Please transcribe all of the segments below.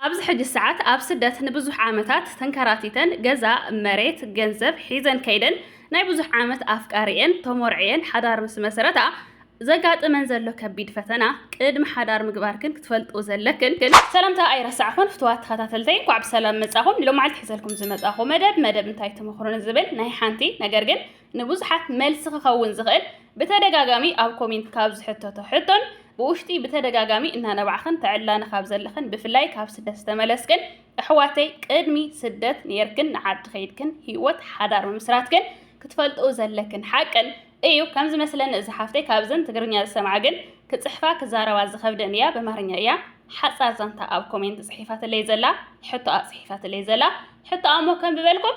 ኣብዚ ሕጂ ሰዓት ኣብ ስደት ንብዙሕ ዓመታት ተንከራቲተን ገዛ፣ መሬት፣ ገንዘብ ሒዘን ከይደን ናይ ብዙሕ ዓመት ኣፍቃሪኤን ተሞርዕየን ሓዳር ምስ መስረታ ዘጋጥመን ዘሎ ከቢድ ፈተና ቅድሚ ሓዳር ምግባርክን ክትፈልጥኡ ዘለክን ሰላምታ ኣይረሳዕኹን ፍትዋት ተኸታተልተይ እንኳዕ ብሰላም መጻኹም ሎማዓልቲ ሒዘልኩም ዝመጻኹ መደብ መደብ እንታይ ትመኽሩኒ ዝብል ናይ ሓንቲ ነገር ግን ንብዙሓት መልሲ ክኸውን ዝኽእል ብተደጋጋሚ ኣብ ኮሜንት ካብ ዝሕተቶ ሕቶን ብውሽጢ ብተደጋጋሚ እናነባዕኽን ተዕላኒ ካብ ዘለኽን ብፍላይ ካብ ስደት ዝተመለስክን ኣሕዋተይ ቅድሚ ስደት ነይርክን ንዓዲ ከይድክን ህይወት ሓዳር ምምስራትክን ክትፈልጥኡ ዘለክን ሓቅን እዩ ከም ዝመስለኒ እዚ ሓፍተይ ካብዘን ትግርኛ ዝሰምዓ ግን ክጽሕፋ ክዛረባ ዝኸብደን እያ በማርኛ እያ ሓጻር ዛንታ ኣብ ኮሜንት ጽሒፋትለይ ዘላ ሕቶኣ ጽሒፋትለይ ዘላ ሕቶኣ እሞ ከም ብበልኩም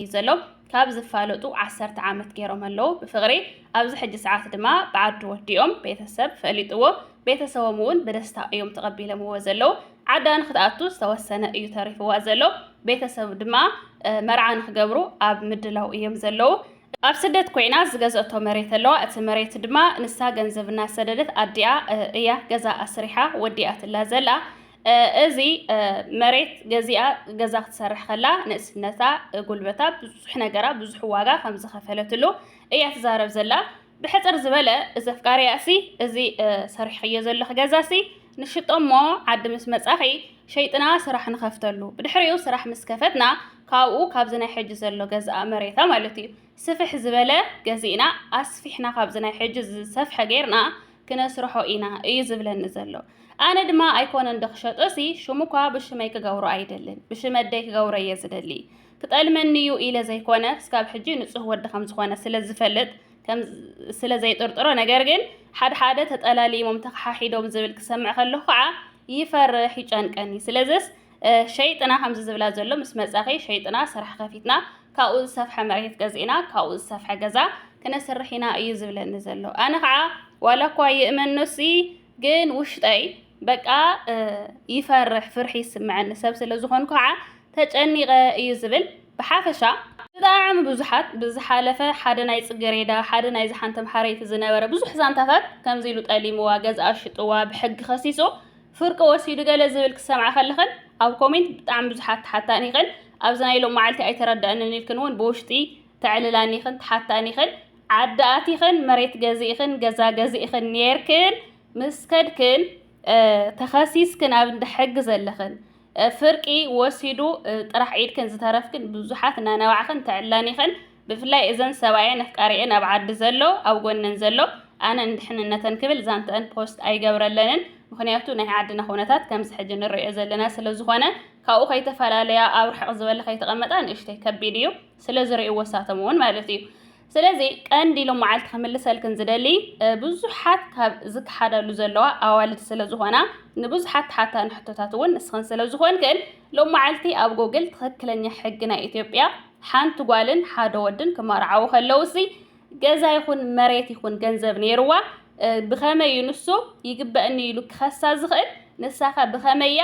እዩ ዘሎ ካብ ዝፋለጡ ዓሰርተ ዓመት ገይሮም ኣለዉ ብፍቕሪ ኣብዚ ሕጂ ሰዓት ድማ ብዓዱ ወዲኦም ቤተሰብ ፈሊጥዎ ቤተሰቦም እውን ብደስታ እዮም ተቐቢለምዎ ዘለዉ ዓዳ ንክትኣቱ ዝተወሰነ እዩ ተሪፍዋ ዘሎ ቤተሰብ ድማ መርዓ ንክገብሩ ኣብ ምድላው እዮም ዘለዉ ኣብ ስደት ኮይና ዝገዘእቶ መሬት ኣለዋ እቲ መሬት ድማ ንሳ ገንዘብ እናሰደደት ኣዲኣ እያ ገዛ ኣስሪሓ ወዲኣትላ ዘላ እዚ መሬት ገዚኣ ገዛ ክትሰርሕ ከላ ንእስነታ፣ ጉልበታ፣ ብዙሕ ነገራ ብዙሕ ዋጋ ከም ዝኸፈለትሉ እያ ትዛረብ ዘላ። ብሕጽር ዝበለ እዚ ኣፍቃሪኣ'ሲ እዚ ሰሪሕኽዮ ዘለኺ ገዛ'ሲ ንሽጦ እሞ ዓዲ ምስ መጻኺ ሸይጥና ስራሕ ንኸፍተሉ። ብድሕሪኡ ስራሕ ምስ ከፈትና ካብኡ ካብዚ ናይ ሕጂ ዘሎ ገዝኣ፣ መሬታ ማለት'ዩ፣ ስፍሕ ዝበለ ገዚእና ኣስፊሕና ካብዚ ናይ ሕጂ ዝሰፍሐ ጌርና ክነስርሖ ኢና እዩ ዝብለኒ ዘሎ ኣነ ድማ ኣይኮነን ዶ ክሸጦ ሲ ሽሙ እኳ ብሽመይ ክገብሮ ኣይደልን ብሽመደይ ክገብሮ እየ ዝደሊ ክጠልመኒ እዩ ኢለ ዘይኮነ ስካብ ሕጂ ንጹህ ወዲ ከም ዝኾነ ስለ ዝፈልጥ ስለ ዘይጥርጥሮ ነገር ግን ሓደ ሓደ ተጠላሊሞም ተኸሓሒዶም ዝብል ክሰምዕ ከለኹ ከዓ ይፈርሕ ይጨንቀኒ ስለዚስ ሸይጥና ከምዚ ዝብላ ዘሎ ምስ መጻኺ ሸይጥና ስራሕ ከፊትና ካብኡ ዝሰፍሐ መሬት ገዚእና ካብኡ ዝሰፍሐ ገዛ ክነስርሕ ኢና እዩ ዝብለኒ ዘሎ ኣነ ከዓ ዋላ እኳ ይእመኖሲ ግን ውሽጠይ በቃ ይፈርሕ ፍርሒ ይስምዐኒ ሰብ ስለ ዝኾንኩ ከዓ ተጨኒቐ እዩ ዝብል ብሓፈሻ ብጣዕሚ ብዙሓት ብዝሓለፈ ሓደ ናይ ጽገሬዳ ሓደ ናይ ዝሓንተም ሓረይቲ ዝነበረ ብዙሕ ዛንታታት ከምዚ ኢሉ ጠሊምዋ ገዝኣ ሽጥዋ ብሕጊ ከሲሱ ፍርቂ ወሲዱ ገለ ዝብል ክትሰምዓ ከለኽን ኣብ ኮሜንት ብጣዕሚ ብዙሓት ትሓታን ኢኽን ኣብዚ ናይ ሎም መዓልቲ ኣይተረደኣንን ኢልክን እውን ብውሽጢ ተዕልላኒ ኢኽን ትሓታኒ ኢኽን ዓዲ ኣቲኽን መሬት ገዚእኽን ገዛ ገዚእኽን ኔርክን ምስ ከድክን ተኸሲስክን ኣብ እንዳ ሕጊ ዘለኽን ፍርቂ ወሲዱ ጥራሕ ኢልክን ዝተረፍክን ብዙሓት እናነባዕኽን ተዕላኒ ኢኽን ብፍላይ እዘን ሰብኣየን ኣፍቃሪኤን ኣብ ዓዲ ዘሎ ኣብ ጎነን ዘሎ ኣነ ንድሕንነተን ክብል ዛንትኣን ፖስት ኣይገብረለንን ምኽንያቱ ናይ ዓድና ኩነታት ከምዚ ሕጂ ንሪኦ ዘለና ስለዝኾነ ካብኡ ከይተፈላለያ ኣብ ርሕቕ ዝበለ ከይተቐመጣ ንእሽተይ ከቢድ እዩ ስለዝሪእዎ ንሳቶም እውን ማለት እዩ ስለዚ ቀንዲ ኢሎም መዓልቲ ክምልሰልክን ዝደሊ ብዙሓት ካብ ዝከሓዳሉ ዘለዋ ኣዋልድ ስለዝኾና ንብዙሓት ተሓታኒ ሕቶታት እውን ንስኽን ስለዝኾንክን ሎም መዓልቲ ኣብ ጎግል ትኽክለኛ ሕጊ ናይ ኢትዮጵያ ሓንቲ ጓልን ሓደ ወድን ክመርዓዉ ከለዉሲ ገዛ ይኹን መሬት ይኹን ገንዘብ ነይርዋ ብኸመይ እዩ ንሱ ይግበእኒ ኢሉ ክኸሳ ዝኽእል? ንሳኸ ብኸመይ እያ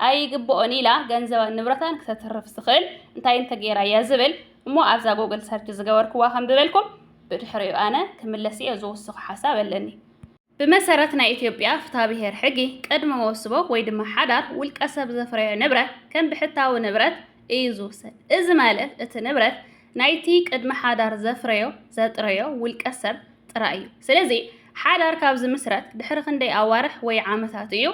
ኣይግበኦን ኢላ ገንዘባን ንብረታን ክተትርፍ ዝኽእል? እንታይ እንተገይራ እያ ዝብል እሞ ኣብዛ ጎግል ሰርች ዝገበርክዋ ከንብበልኩም ብድሕሪኡ ኣነ ክምለስ እየ ዝውስኹ ሓሳብ ኣለኒ። ብመሰረት ናይ ኢትዮጵያ ፍትሃብሄር ሕጊ ቅድሚ መውስቦ ወይ ድማ ሓዳር ውልቀ ሰብ ዘፍረዮ ንብረት ከም ብሕታዊ ንብረት እዩ ዝውሰድ። እዚ ማለት እቲ ንብረት ናይቲ ቅድሚ ሓዳር ዘፍረዮ፣ ዘጥረዮ፣ ውልቀ ሰብ ጥራይ እዩ። ስለዚ ሓዳር ካብ ዝምስረት ድሕሪ ክንደይ ኣዋርሕ ወይ ዓመታት እዩ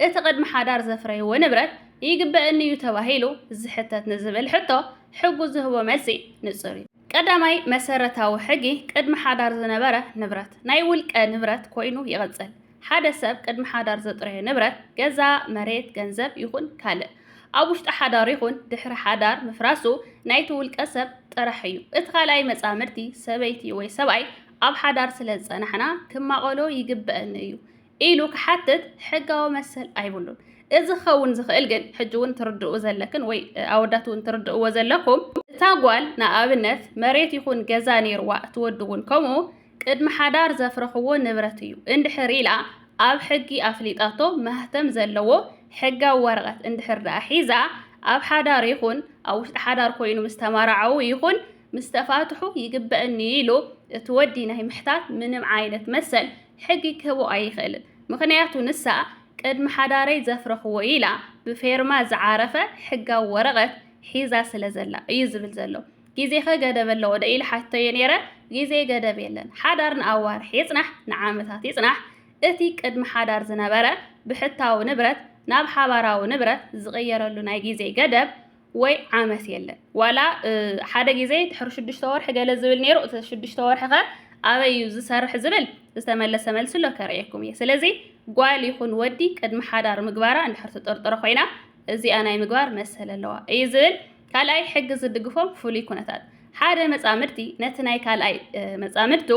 እቲ ቅድሚ ሓዳር ዘፍረይዎ ንብረት ይግበእኒ እዩ ተባሂሉ ዝሕተት ንዝብል ሕቶ ሕጉ ዝህቦ መልሲ ንጹር እዩ። ቀዳማይ መሰረታዊ ሕጊ ቅድሚ ሓዳር ዝነበረ ንብረት ናይ ውልቀ ንብረት ኮይኑ ይቕጽል። ሓደ ሰብ ቅድሚ ሓዳር ዘጥረዮ ንብረት፣ ገዛ፣ መሬት፣ ገንዘብ ይኹን ካልእ፣ ኣብ ውሽጢ ሓዳር ይኹን ድሕሪ ሓዳር ምፍራሱ ናይቲ ውልቀ ሰብ ጥራሕ እዩ። እቲ ካልኣይ መጻምድቲ፣ ሰበይቲ ወይ ሰብኣይ፣ ኣብ ሓዳር ስለ ዝጸናሕና ክማቐሎ ይግበእኒ እዩ። ኢሉ ክሓትት ሕጋዊ መሰል ኣይብሉን። እዚ ክኸውን ዝኽእል ግን ሕጂ እውን ትርድኡ ዘለክን ወይ ኣወዳት እውን ትርድእዎ ዘለኩም እታ ጓል ንኣብነት መሬት ይኹን ገዛ ነይርዋ እቲ ወዲ እውን ከምኡ ቅድሚ ሓዳር ዘፍረኽዎ ንብረት እዩ እንድሕር ኢላ ኣብ ሕጊ ኣፍሊጣቶ ማህተም ዘለዎ ሕጋዊ ወረቐት እንድሕር ደኣ ሒዛ ኣብ ሓዳር ይኹን ኣብ ውሽጢ ሓዳር ኮይኑ ምስ ተማራዓዉ ይኹን ምስ ተፋትሑ ይግበእኒ ኢሉ እቲ ወዲ ናይ ምሕታት ምንም ዓይነት መሰል ሕጊ ክህቦ ኣይኽእልን ምኽንያቱ ንሳ ቅድሚ ሓዳረይ ዘፍረኽዎ ኢላ ብፌርማ ዝዓረፈ ሕጋዊ ወረቐት ሒዛ ስለ ዘላ እዩ ዝብል ዘሎ። ግዜኸ ገደብ ኣለዎ ዶ ኢለ ሓቲተዮ ነይረ፣ ግዜ ገደብ የለን፣ ሓዳር ንኣዋርሕ ይጽናሕ ንዓመታት ይጽናሕ እቲ ቅድሚ ሓዳር ዝነበረ ብሕታዊ ንብረት ናብ ሓባራዊ ንብረት ዝቕየረሉ ናይ ግዜ ገደብ ወይ ዓመት የለን ዋላ ሓደ ግዜ ድሕሪ ሽዱሽተ ወርሒ ገለ ዝብል ነይሩ እቲ ሽዱሽተ ወርሒ ከ ኣበይ እዩ ዝሰርሕ ዝብል ዝተመለሰ መልሲ ኣሎ ከርእየኩም እየ ስለዚ ጓል ይኹን ወዲ ቅድሚ ሓዳር ምግባራ እንድሕር ትጥርጥሮ ኮይና እዚኣ ናይ ምግባር መሰል ኣለዋ እዩ ዝብል ካልኣይ ሕጊ ዝድግፎም ፍሉይ ኩነታት ሓደ መጻምድቲ ነቲ ናይ ካልኣይ መጻምድቱ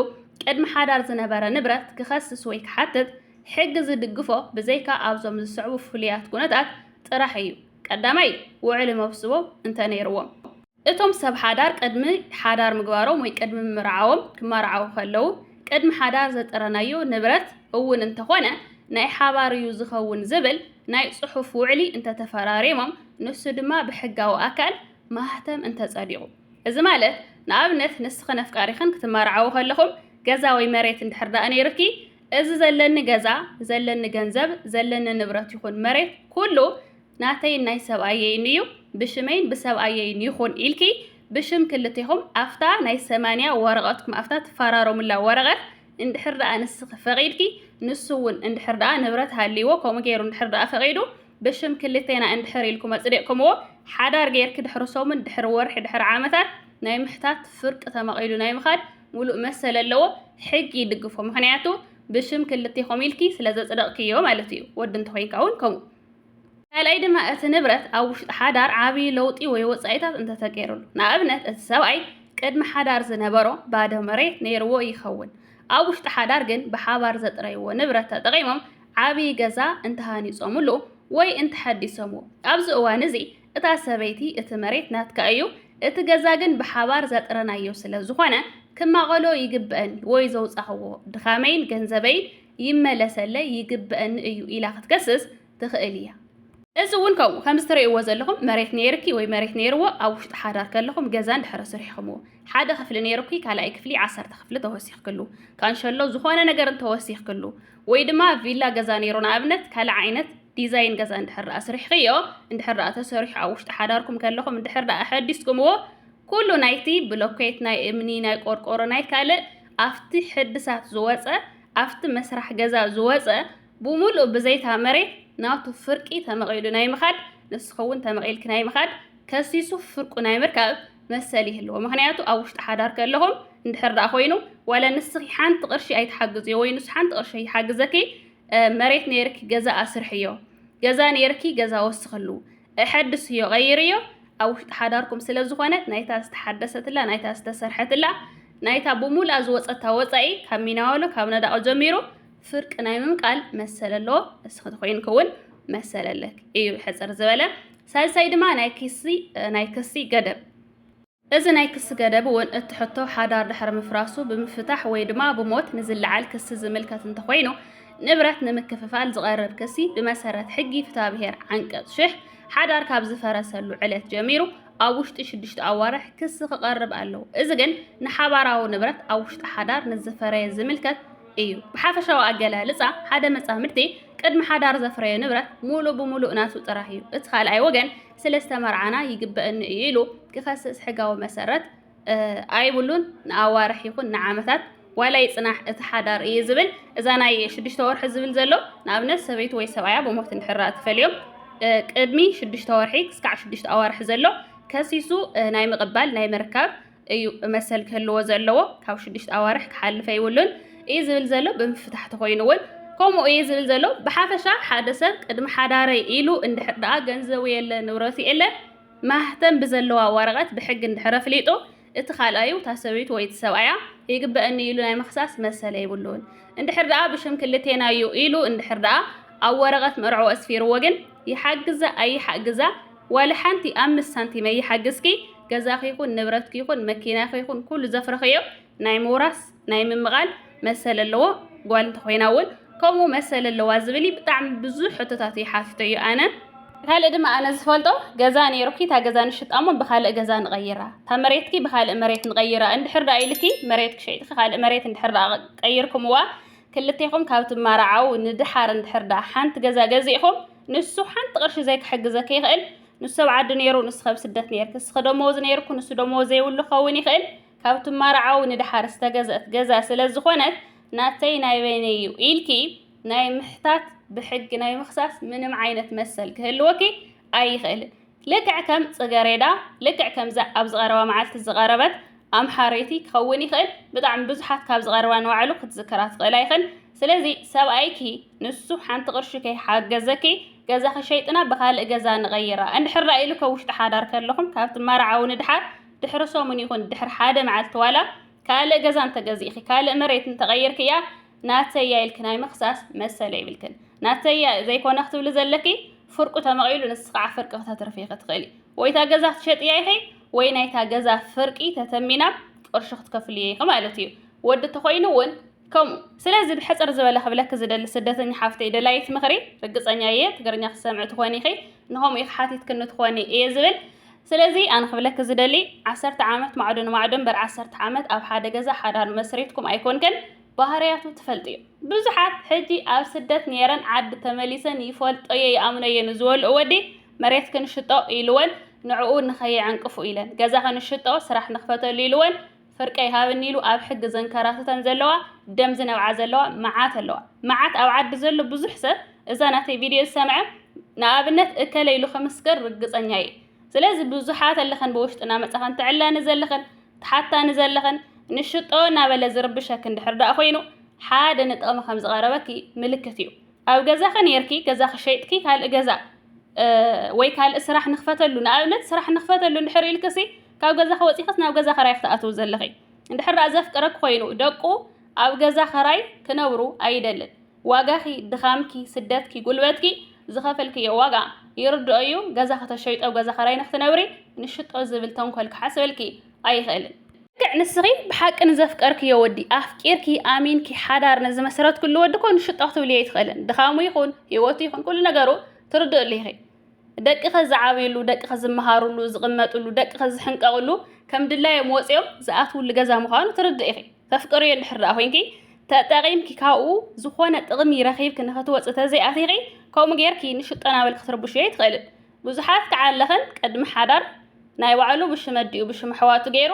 ቅድሚ ሓዳር ዝነበረ ንብረት ክኸስስ ወይ ክሓትት ሕጊ ዝድግፎ ብዘይካ ኣብዞም ዝስዕቡ ፍሉያት ኩነታት ጥራሕ እዩ ቀዳማይ፣ ውዕሊ መፍስቦ እንተ ነይርዎም፣ እቶም ሰብ ሓዳር ቅድሚ ሓዳር ምግባሮም ወይ ቅድሚ ምምርዓዎም፣ ክመራዓዉ ከለዉ፣ ቅድሚ ሓዳር ዘጥረናዮ ንብረት እውን እንተኾነ ናይ ሓባር እዩ ዝኸውን ዝብል ናይ ጽሑፍ ውዕሊ እንተ ተፈራሪሞም፣ ንሱ ድማ ብሕጋዊ ኣካል ማህተም እንተ ጸዲቑ። እዚ ማለት ንኣብነት ንስኽን ኣፍቃሪኽን ክትመርዓዉ ከለኹም ገዛ ወይ መሬት እንድሕር ደኣ ነይሩኪ፣ እዚ ዘለኒ ገዛ፣ ዘለኒ ገንዘብ፣ ዘለኒ ንብረት ይኹን መሬት ኩሉ ናተይን ናይ ሰብኣየይን እዩ፣ ብሽመይን ብሰብኣየይን ይኹን ኢልኪ ብሽም ክልቴኹም ኣብታ ናይ ሰማንያ ወረቐትኩም ኣብታ ትፈራረሙላ ወረቐት እንድሕር ደኣ ንስኺ ፈቒድኪ ንሱ እውን እንድሕር ደኣ ንብረት ሃልይዎ ከምኡ ገይሩ እንድሕር ደኣ ፈቒዱ ብሽም ክልቴና እንድሕር ኢልኩም ኣጽዲቕኩምዎ ሓዳር ገይርኪ ድሕሪ ሰሙን ድሕሪ ወርሒ ድሕሪ ዓመታት ናይ ምሕታት ፍርቂ ተመቒሉ ናይ ምኻድ ሙሉእ መሰል ኣለዎ ሕጊ ይድግፎ ምክንያቱ ብሽም ክልቴኹም ኢልኪ ስለ ዘጽደቕክዮ ማለት እዩ ወዲ እንተኾይንካ እውን ከምኡ ካልኣይ ድማ እቲ ንብረት ኣብ ውሽጢ ሓዳር ዓብዪ ለውጢ ወይ ወጻኢታት እንተተገይሩሉ ንኣብነት እቲ ሰብኣይ ቅድሚ ሓዳር ዝነበሮ ባዶ መሬት ነይርዎ ይኸውን ኣብ ውሽጢ ሓዳር ግን ብሓባር ዘጥረይዎ ንብረት ተጠቒሞም ዓብዪ ገዛ እንተሃኒጾምሉ ወይ እንተሐዲሶምዎ ኣብዚ እዋን እዚ እታ ሰበይቲ እቲ መሬት ናትካ እዩ፣ እቲ ገዛ ግን ብሓባር ዘጥረናዮ ስለ ዝኾነ ክማቐሎ ይግበእኒ ወይ ዘውጻኽዎ ድኻመይን ገንዘበይን ይመለሰለይ ይግበእኒ እዩ ኢላ ክትከስስ ትኽእል እያ። እዚ እውን ከምኡ፣ ከምዚ ትርእይዎ ዘለኹም መሬት ነይርኪ ወይ መሬት ነይርዎ ኣብ ውሽጢ ሓዳር ከለኹም ገዛ እንድሕሪ ስሪሕክምዎ፣ ሓደ ክፍሊ ነይሩኪ ካልኣይ ክፍሊ ዓሰርተ ክፍሊ ተወሲኽክሉ፣ ካንሸሎ ዝኾነ ነገር እንተወሲኽክሉ ወይ ድማ ቪላ ገዛ ነይሩ ንኣብነት ካልእ ዓይነት፣ ዲዛይን ገዛ እንድሕር ደኣ ስሪሕኺዮ፣ እንድሕር ደኣ ተሰሪሑ ኣብ ውሽጢ ሓዳርኩም ከለኹም እንድሕር ደኣ ኣሐዲስኩምዎ፣ ኩሉ ናይቲ ብሎኬት፣ ናይ እምኒ፣ ናይ ቆርቆሮ፣ ናይ ካልእ ኣብቲ ሕድሳት ዝወጸ፣ ኣብቲ መስራሕ ገዛ ዝወጸ ብሙሉኡ ብዘይታ መሬት ናቱ ፍርቂ ተመቒሉ ናይ ምኻድ፣ ንስኺ'ውን ተመቒልኪ ናይ ምኻድ፣ ከሲሱ ፍርቁ ናይ ምርካብ መሰል ይህልዎ። ምኽንያቱ ኣብ ውሽጢ ሓዳር ከለኹም እንድሕር ደኣ ኮይኑ ዋላ ንስኺ ሓንቲ ቅርሺ ኣይትሓግዝዮ ወይ ንሱ ሓንቲ ቅርሺ ኣይሓግዘኪ መሬት ነይርኪ ገዛ ኣስርሕዮ ገዛ ነይርኪ ገዛ ወስኽሉ እሐድስዮ ቐይርዮ ኣብ ውሽጢ ሓዳርኩም ስለ ዝኾነ ናይታ ዝተሓደሰትላ ናይታ ዝተሰርሐትላ ናይታ ብሙሉኣ ዝወፀታ ወፃኢ ካብ ሚናወሎ ካብ ነዳቑ ጀሚሩ ፍርቂ ናይ ምምቃል መሰል ኣለዎ እስኺ ተኮይንክ እውን መሰል ኣለክ እዩ ሕፅር ዝበለ ሳልሳይ ድማ ናይ ክሲ ናይ ክሲ ገደብ እዚ ናይ ክሲ ገደብ እውን እቲ ሕቶ ሓዳር ድሕሪ ምፍራሱ ብምፍታሕ ወይ ድማ ብሞት ንዝለዓል ክሲ ዝምልከት እንተኾይኑ ንብረት ንምክፍፋል ዝቐርብ ክሲ ብመሰረት ሕጊ ፍትሃብሄር ዓንቀፅ ሽሕ ሓዳር ካብ ዝፈረሰሉ ዕለት ጀሚሩ ኣብ ውሽጢ ሽዱሽተ ኣዋርሕ ክሲ ክቐርብ ኣለዎ። እዚ ግን ንሓባራዊ ንብረት ኣብ ውሽጢ ሓዳር ንዝፈረየ ዝምልከት እዩ። ብሓፈሻዊ ኣገላልፃ ሓደ መፃምድቲ ቅድሚ ሓዳር ዘፍረዮ ንብረት ሙሉእ ብሙሉእ ናቱ ጥራሕ እዩ። እቲ ካልኣይ ወገን ስለዝተመርዓና ይግበእኒ እዩ ኢሉ ክኸስስ ሕጋዊ መሰረት ኣይብሉን። ንኣዋርሕ ይኹን ንዓመታት ዋላ ይጽናሕ እቲ ሓዳር እዩ ዝብል። እዛ ናይ ሽዱሽተ ወርሒ ዝብል ዘሎ ንኣብነት ሰበይቱ ወይ ሰብኣያ ብሞት እንድሕር ተፈልዮም ቅድሚ ሽዱሽተ ወርሒ ክስካዕ ሽዱሽተ ኣዋርሒ ዘሎ ከሲሱ ናይ ምቕባል ናይ ምርካብ እዩ መሰል ክህልዎ ዘለዎ ካብ ሽዱሽተ ኣዋርሕ ክሓልፍ ኣይብሉን እዩ ዝብል ዘሎ ብምፍታሕ ተኾይኑ እውን ከምኡ እዩ ዝብል ዘሎ ብሓፈሻ ሓደ ሰብ ቅድሚ ሓዳረይ ኢሉ እንድሕር ደኣ ገንዘቡ የለ ንብረቱ የለ ማህተም ብዘለዋ ወረቐት ብሕጊ እንድሕር ኣፍሊጡ እቲ ካልኣዩ እታ ሰበይቱ ወይ እቲ ሰብኣያ ይግበአኒ ኢሉ ናይ ምኽሳስ መሰል የብሉን እንድሕር ደኣ ብሽም ክልቴና እዩ ኢሉ እንድሕር ደኣ ኣብ ወረቐት መርዕኡ ኣስፊርዎ ግን ይሓግዛ ኣይሓግዛ ዋላ ሓንቲ ኣምስት ሳንቲም ኣይሓግዝኪ ገዛኺ ይኹን ንብረትኪ ይኹን መኪናኺ ይኹን ኩሉ ዘፍረኽዮ ናይ ምውራስ ናይ ምምቓል መሰል ኣለዎ ጓል እንተኾይና እውን ከምኡ መሰል ኣለዋ ዝብል ብጣዕሚ ብዙሕ ሕቶታት እዩ ሓቲቶ እዩ ኣነ ካልእ ድማ ኣነ ዝፈልጦ ገዛ ነይሩኪ እታ ገዛ ንሽጣ እሞ ብካልእ ገዛ ንቐይራ እታ መሬትኪ ብካልእ መሬት ንቐይራ እንድሕር ዳኣ ኢልኪ መሬትኪ ሸይጥኪ ካልእ መሬት እንድሕር ዳኣ ቀይርኩምዋ ክልቴኹም ካብ ትማራዓው ንድሓር እንድሕር ዳኣ ሓንቲ ገዛ ገዚእኹም ንሱ ሓንቲ ቅርሺ ዘይክሕግዘኪ ይኽእል ንሱ ሰብ ዓዲ ነይሩ ንስኺ ኣብ ስደት ነይርኪ ንስኺ ደመወዝ ነይርኩ ንሱ ደመወዝ ዘይብሉ ክኸውን ይኽእል ካብ ትማርዓዊ ንደሓር ዝተገዝአት ገዛ ስለ ዝኾነት ናተይ ናይ በይነይ እዩ ኢልኪ ናይ ምሕታት ብሕጊ ናይ ምኽሳስ ምንም ዓይነት መሰል ክህልወኪ ኣይኽእልን። ልክዕ ከም ጽገሬዳ ልክዕ ከምዛ ኣብዚ ቀረባ መዓልቲ ዝቐረበት ኣምሓረይቲ ክኸውን ይኽእል ብጣዕሚ ብዙሓት ካብ ዝቐርባ ንባዕሉ ክትዝክራ ትኽእላ ይኽን ስለዚ ሰብኣይኪ ንሱ ሓንቲ ቅርሺ ከይሓገዘኪ ገዛኺ ሸይጥና ብኻልእ ገዛ ንቐይራ እንድሕር ራእ ኢሉ ካብ ውሽጢ ሓዳር ከለኹም ካብ ትመርዓው ንድሓር ድሕሪ ሰሙን ይኹን ድሕሪ ሓደ መዓልቲ ዋላ ካልእ ገዛ እንተገዚእኺ ካልእ መሬት እንተቐይርክያ ናተይ እያ ኢልኪ ናይ ምኽሳስ መሰል የብልክን። ናተይ እያ ዘይኮነ ክትብሊ ዘለኪ ፍርቁ ተመቒሉ ንስኺ ከዓ ፍርቂ ክተትርፊ ኢኺ ትኽእሊ። ወይ እታ ገዛ ክትሸጥያ ኢኺ ወይ ናይታ ገዛ ፍርቂ ተተሚና ቅርሹ ክትከፍልዮ ኢኺ ማለት እዩ። ወዲ ተኾይኑ እውን ከምኡ። ስለዚ ብሕጽር ዝበለ ክብለኪ ዝደሊ ስደተኛ ሓፍተይ ደላዪት ምኽሪ ርግጸኛ እየ ትግርኛ ክትሰምዒ ትኾኒ ኢኺ ንኸምኡ ኢኺ ሓቲትክኒ ትኾኒ እየ ዝብል። ስለዚ ኣነ ክብለኪ ዝደሊ ዓሰርተ ዓመት ማዕዶ ንማዕዶ እምበር ዓሰርተ ዓመት ኣብ ሓደ ገዛ ሓዳር መስሪትኩም ኣይኮንክን ባህርያቱ ትፈልጥዮ ብዙሓት ሕጂ ኣብ ስደት ነይረን ዓዲ ተመሊሰን ይፈልጦየ ይኣምኖየ ንዝበልኦ ወዲ መሬት ክንሽጦ ኢልወን ንዕኡ ንኸየዕንቅፉ ኢለን ገዛ ክንሽጦ ስራሕ ንክፈተሉ ኢልወን ፍርቀይ ሃብኒ ኢሉ ኣብ ሕጊ ዘንከራትተን ዘለዋ ደም ዝነብዓ ዘለዋ መዓት ኣለዋ መዓት ኣብ ዓዲ ዘሎ ብዙሕ ሰብ እዛ ናተይ ቪድዮ ዝሰምዐ ንኣብነት እከለ ኢሉ ክምስክር ርግጸኛ እየ ስለዚ ብዙሓት ኣለኸን ብውሽጢ እናመጻኸን ትዕላኒ ዘለኸን ትሓታኒ ዘለኸን ንሽጦ እናበለ ዝርብሸኪ እንድሕር ደኣ ኮይኑ ሓደ ንጥቕሚ ከም ዝቐረበኪ ምልክት እዩ ኣብ ገዛኺ ነርኪ ገዛኺ ሸይጥኪ ካልእ ገዛ ወይ ካልእ ስራሕ ንኽፈተሉ ንኣብነት ስራሕ ንኽፈተሉ እንድሕር ኢልክሲ ካብ ገዛኺ ወጺኽስ ናብ ገዛ ኸራይ ክትኣትዊ ዘለኺ? እንድሕር ደኣ ዘፍቅረኪ ኮይኑ ደቁ ኣብ ገዛ ኸራይ ክነብሩ ኣይደልን። ዋጋኺ፣ ድኻምኪ፣ ስደትኪ፣ ጉልበትኪ፣ ዝኸፈልክዮ ዋጋ ይርድኦ እዩ፣ ገዛኺ ተሸይጡ ኣብ ገዛ ኸራይ ንኽትነብሪ ንሽጦ ዝብል ተንኮል ክሓስበልኪ ኣይኽእልን። ልክዕ ንስኺ ብሓቂ ንዘፍቀርክዮ ወዲ ኣፍቂርኪ ኣሚንኪ ሓዳር ንዝመስረትክሉ ወዲ እኮ ንሽጦ ክትብልዮ ኣይትኽእልን። ድኻሙ ይኹን፣ ህይወቱ ይኹን፣ ኩሉ ነገሩ ትርድእሉ ኢኺ። ደቅኺ ዝዓብይሉ፣ ደቅኺ ዝመሃርሉ፣ ዝቕመጥሉ፣ ደቅኺ ዝሕንቀቕሉ፣ ከም ድላዮም ወጺኦም ዝኣትውሉ ገዛ ምዃኑ ትርድኢ ኢኺ። ተፍቅርዮ እንድሕር ደኣ ኮይንኪ፣ ተጠቒምኪ ካብኡ ዝኾነ ጥቕሚ ረኺብኪ ንኽትወጺ ተዘይኣቲኺ፣ ከምኡ ጌርኪ ንሽጦ ናበልኪ ክትርብሽዮ ኣይትኽእልን። ብዙሓት ክዓለኽን ቅድሚ ሓዳር ናይ ባዕሉ ብሽም ኣዲኡ ብሽም ኣሕዋቱ ጌሩ፣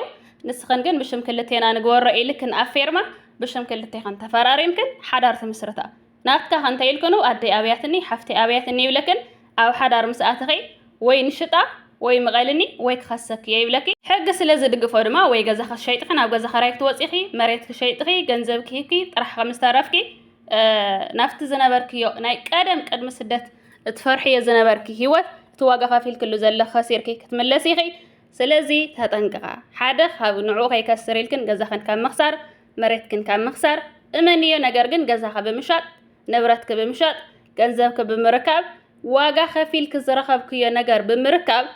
ንስኽን ግን ብሽም ክልቴና ንግበሮ ኢልክን ኣብ ፌርማ ብሽም ክልቴኽን ተፈራሪምክን ሓዳር ትምስርታ። ናትካ ከ እንታይ ኢልክኑ ኣደይ ኣብያትኒ ሓፍተይ ኣብያትኒ ይብለክን ኣብ ሓዳር ምስ ኣተኺ ወይ ንሽጣ ወይ ምቐልኒ ወይ ክኸሰኪ እየ ይብለኪ ሕጊ ስለ ዝድግፎ ድማ ወይ ገዛኺ ሸይጥኺ ናብ ገዛ ኸራይ ክትወጺኺ መሬትኪ ሸይጥኺ ገንዘብኪ ሂብኪ ጥራሕ ከም ዝተረፍኪ ናብቲ ዝነበርክዮ ናይ ቀደም ቅድሚ ስደት እትፈርሕዮ ዝነበርኪ ሂወት እቲ ዋጋ ከፊልክሉ ዘለኺ ከሲርኪ ክትምለሲ ኢኺ ስለዚ ተጠንቅቓ ሓደ ካብ ንዕኡ ከይከስር ኢልክን ገዛኽን ካብ ምኽሳር መሬትክን ካብ ምኽሳር እመንዮ ነገር ግን ገዛኺ ብምሻጥ ንብረትኪ ብምሻጥ ገንዘብኪ ብምርካብ ዋጋ ከፊልኪ ዝረኸብክዮ ነገር ብምርካብ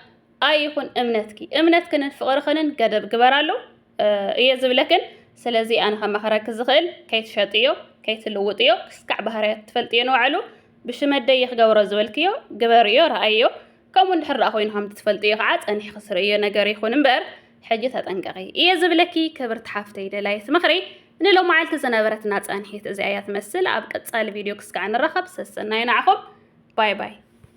ኣይኹን እምነትኪ እምነትክንን ፍቕርኽንን ገደብ ግበራሉ እየ ዝብለክን ስለዚ ኣነ ከማኸረኪ ዝኽእል ከይትሸጥዮ ከይትልውጥዮ ክስካዕ ባህርያት ትፈልጥዮ ንባዕሉ ብሽመደይ ክገብሮ ዝበልክዮ ግበርዮ ረኣዮ ከምኡ እንድሕር ደኣ ኮይኑ ከምቲ ትፈልጥዮ ከዓ ጸኒሕኺ ስርዕዮ ነገር ይኹን እምበር ሕጂ ተጠንቀቂ እየ ዝብለኪ ክብርቲ ሓፍተይ ደላይት ምኽሪ ንሎማዓልቲ ዝነበረትና ጸንሒት እዚኣ እያ ትመስል ኣብ ቀጻሊ ቪድዮ ክስካዕ ንራኸብ ሰሰናዩ ናዕኹም ባይ ባይ